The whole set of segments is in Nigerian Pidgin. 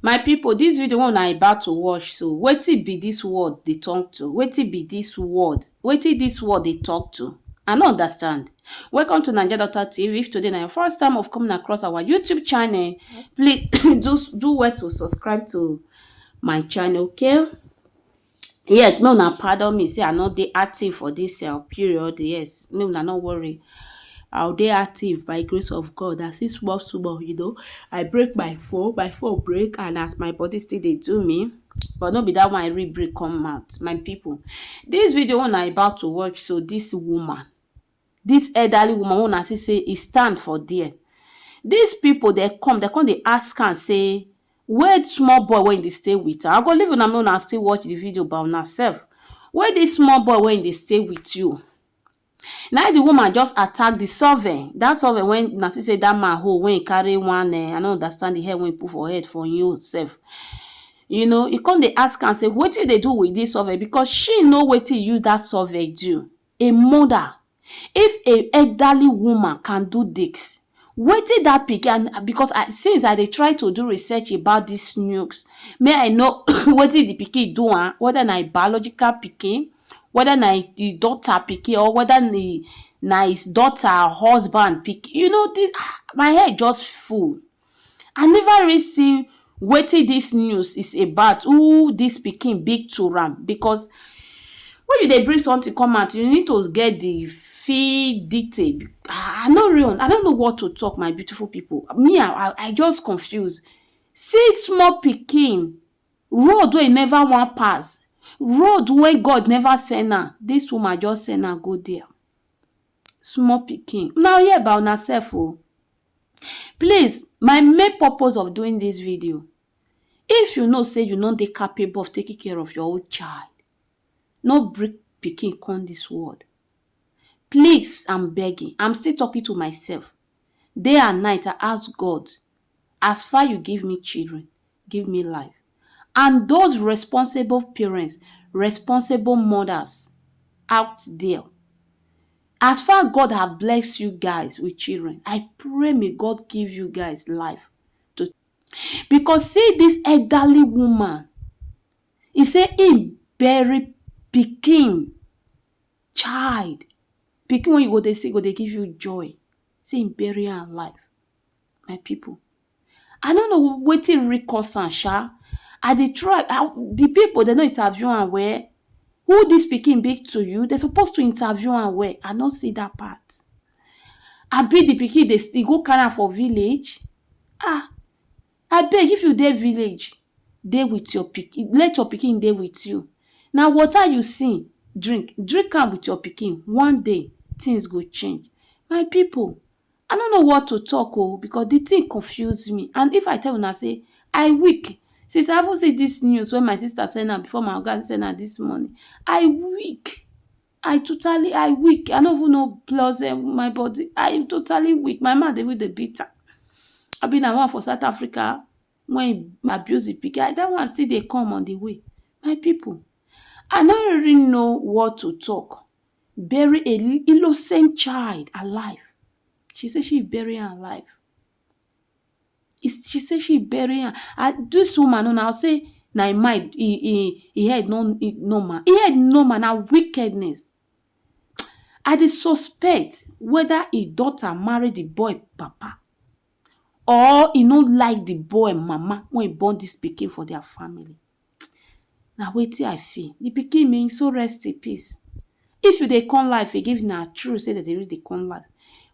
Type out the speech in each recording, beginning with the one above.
My pipu dis video wey una about to watch so wetin be dis word dey talk to wetin be dis word wetin dis word dey talk to I no understand welcome to naija doctor tv if today na your first time of coming across our YouTube channel please do do well to subscribe to my channel okay Yes make una pardon me sey I no dey active for dis um period yes make una no worry I go dey active by grace of God I see small small you know I break my phone my phone break and as my body still dey do me but no be dat one I really break come out my people dis video wey una about to watch so dis woman Dis elderly woman wey una see sey e stand for there, dis pipu dem come, dem come dey ask am sey, where small boy wey e dey stay with am? I go leave una make una still watch de video by una sef. Where dis small boy wey e dey stay with you? Naim de woman just attack de survey, dat survey wey una see sey dat man hold wey e carry one um I no understand de hair wey e put for head for im own sef. You know, e come dey ask am sey, wetin you dey do with dis survey? Because she know wetin e use dat survey do. a mother if a elderly woman can do this wetin that pikin and because I since I dey try to do research about this news make I know wetin the pikin do am whether na him biological pikin whether na him daughter pikin or whether na him na his daughter husband pikin you know this um my head just full. I never really see wetin dis news is about, who dis pikin be to am because when you dey bring something come out you need to get de fee detail I no really I no know what to talk my beautiful pipu me I I just confuse see small pikin road wey e never wan pass road wey God never send am dis woman just send am go dia small pikin una hear about una self oo Please, my main purpose of doing dis video, if you know sey you no dey capable of taking care of your own child, no bring pikin come dis world. Please, am begging, am still talking to myself, day and night I ask God, as far you give me children, give me life and those responsible parents, responsible mothers out there as far God have blessed you guys with children, I pray may God give you guys life to because see this elderly woman, he say he bury pikin, child, pikin when you go they see go they give you joy, say he bury her life. my pipu I no know wetin really cause am sha, I dey try de pipu dem no interview am well, who dis pikin be to you? Dem suppose to interview am well, I no see dat part. Abi de pikin dey e go carry am for village? Ah! Abeg if you dey village dey wit your pikin, let your pikin dey wit you, na water you see drink, drink am wit your pikin, one day things go change. My pipu I no know what to talk oh because the thing confuse me and if I tell una say I weak since I even see this news when my sister send am before my oga send am this morning I weak I totally I weak I no even know plus um, my body I totally weak my man dey even dey beat am I be na one for South Africa when he abuse the pikin that one still dey come on the way my people I no really know what to talk bury a innocent child alive. She say she bury am alive. She say she bury am and dis woman una go say na im mind im im im head no normal. Im head normal na wickedness. I dey suspect whether im daughter marry de boy papa or e no like de boy mama wey e born dis pikin for their family. na wetin I feel. Di pikin mean so rest in peace. If you dey come life again, if na true sey dem dey really dey come life,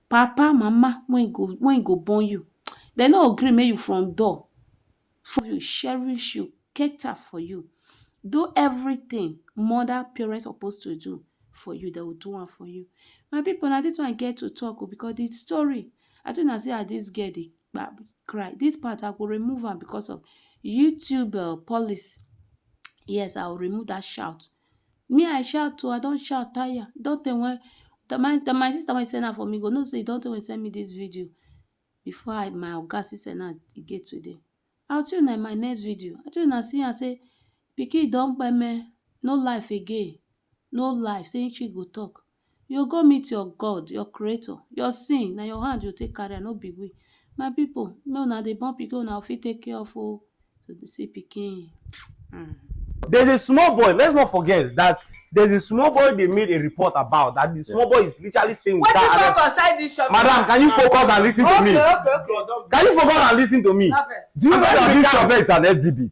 papa, mama wey e go wey e go born you, dem no go gree make you from door cherish you, cater for you, do everytin mother, parent suppose to do for you, dem go do am for you. My pipu, na dis one I get to talk o because di story, I too know sey as dis girl dey cry this part i go remove am because of youtube uh, policy yes i will remove that shout me i shout too i don shout tire don tey when the, my, the, my sister wey send am for me go know say e don tey when send me this video before i my oga still send am again today i will see una in my next video i tell una see am say pikin don kpeme no life again no life say she go talk You go meet your God, your creator. Your sin, na your hand you take carry am, no be we. My people, make una dey born pikin una fit take care of o. So dey see pikin. Mm. There's a small boy, let's not forget that there's a small boy they made a report about that the small boy is literally staying with What you that. talk outside this shop? Madam, can you focus and listen to me? Okay, okay, okay. Can you focus and listen to me? Harvest. Do you know that this shop is an exhibit?